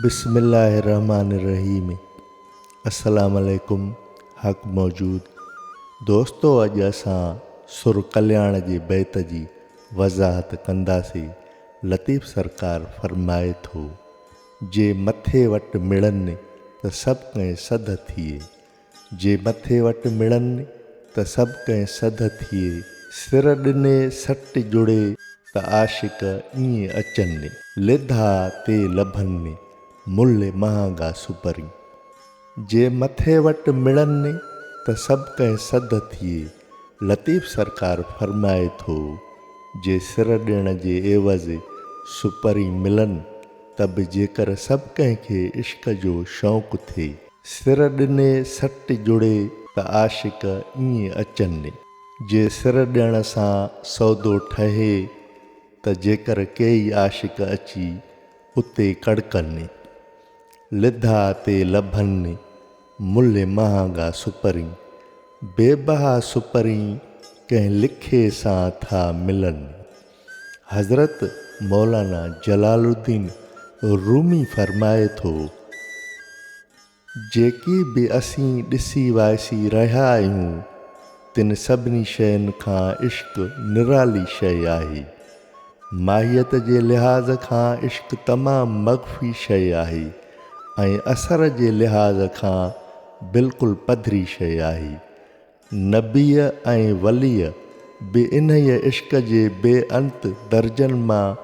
بسم الله الرحمٰن الرحيم السلام عليڪم حق موجود دوستو اڄ اسان سر ڪلياڻ جي بيت جي وضاحت ڪنداسي لطيف سرڪار فرمائي ٿو جي مٿي وٽ مڙن ته سڀ ڪنهن سڌ ٿئي جي مٿي وٽ مڙن ته سڀ ڪنهن سڌ ٿئي. سر ڏني سٽ جڙي ته عاشق ائين اچن. لڌا تي لڀن ملهه مهانگا سپرين. جي مٿي وٽ مڙن ته سڀ ڪنهن سڌ ٿئي. لطيف سرڪار فرمائي ٿو، جي سر ڏيڻ جي عيوض سپرين ملن ته به جيڪر سڀ ڪنهن کي عشق جو شوق ٿئي. سر ڏني سٽ جڙي ته عاشق ائين اچن. جي سر ڏيڻ سان سودو ٺهي ته جيڪر ڪيئي عاشق اچي اتي ڪڙڪن. لڌا تي لڀن ملهه مهانگا سپرين. بي بها سپرين ڪنهن لکي سان ٿا ملن. حضرت مولانا جلال الدين رومي فرمائي ٿو، جيڪي به اسين ڏسي وائسي رهيا آهيون، تن سڀني شين کان عشق نرالي شيء آهي. ماهيت جي لحاظ کان عشق تمام مخفي شيء آهي ۽ اثر جي لحاظ کان بلڪل پڌري شيء آهي. نبيء ۽ وليء به انهيء عشق جي بي انت درجن مان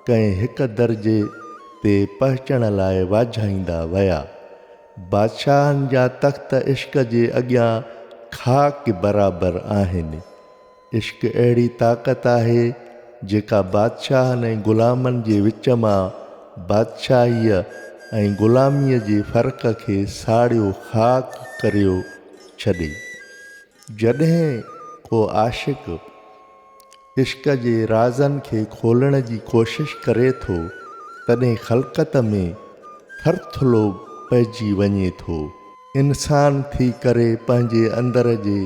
ڪنهن هڪ درجي تي پهچڻ لاء واجهائيندا ويا. بادشاهن جا تخت عشق جي اڳيان خاڪ برابر آهن. عشق اهڙي طاقت آهي جيڪا بادشاهن ۽ غلامن جي وچ مان بادشاهيء ۽ غلاميء جي فرق کي ساڙيو خاڪ ڪريو ڇڏي. جڏهن ڪو عاشق عشق جي رازن کي کولڻ جي ڪوشش ڪري ٿو، تڏهن خلقت ۾ ٿرٿلو پئجي وڃي ٿو. انسان ٿي ڪري پنهنجي اندر جي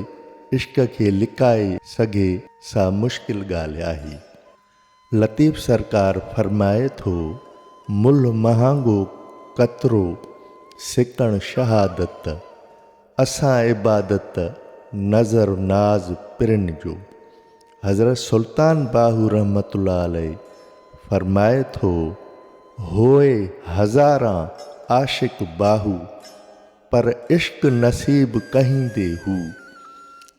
عشق کي لڪائي سگهي سا مشڪل ڳالهه آهي. لطيف سرڪار فرمائي ٿو، ملهه مهانگو قطرو سڪڻ شهادت، اسان عبادت نذر ناز پرين جو. حضرت سلطان باهو رحمة الله عليه فرمائي ٿو، هوء هزاران عاشق باهو، پر عشق نصيب ڪهيندي هو.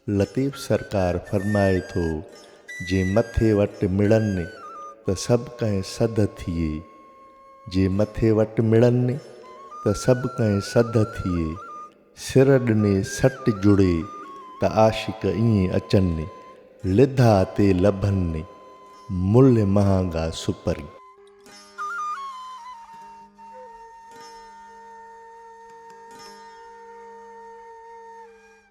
لطيف سرڪار فرمائي ٿو، جي مٿي وٽ مڙن ته سڀ ڪنهن سڌ ٿئي، جي مٿي وٽ مڙن ته سڀ ڪنهن سڌ ٿئي. سر ڏني سٽ جڙي ته عاشق ائين اچن ني لڌا تي لڀن ني ملهه مهانگا سپري.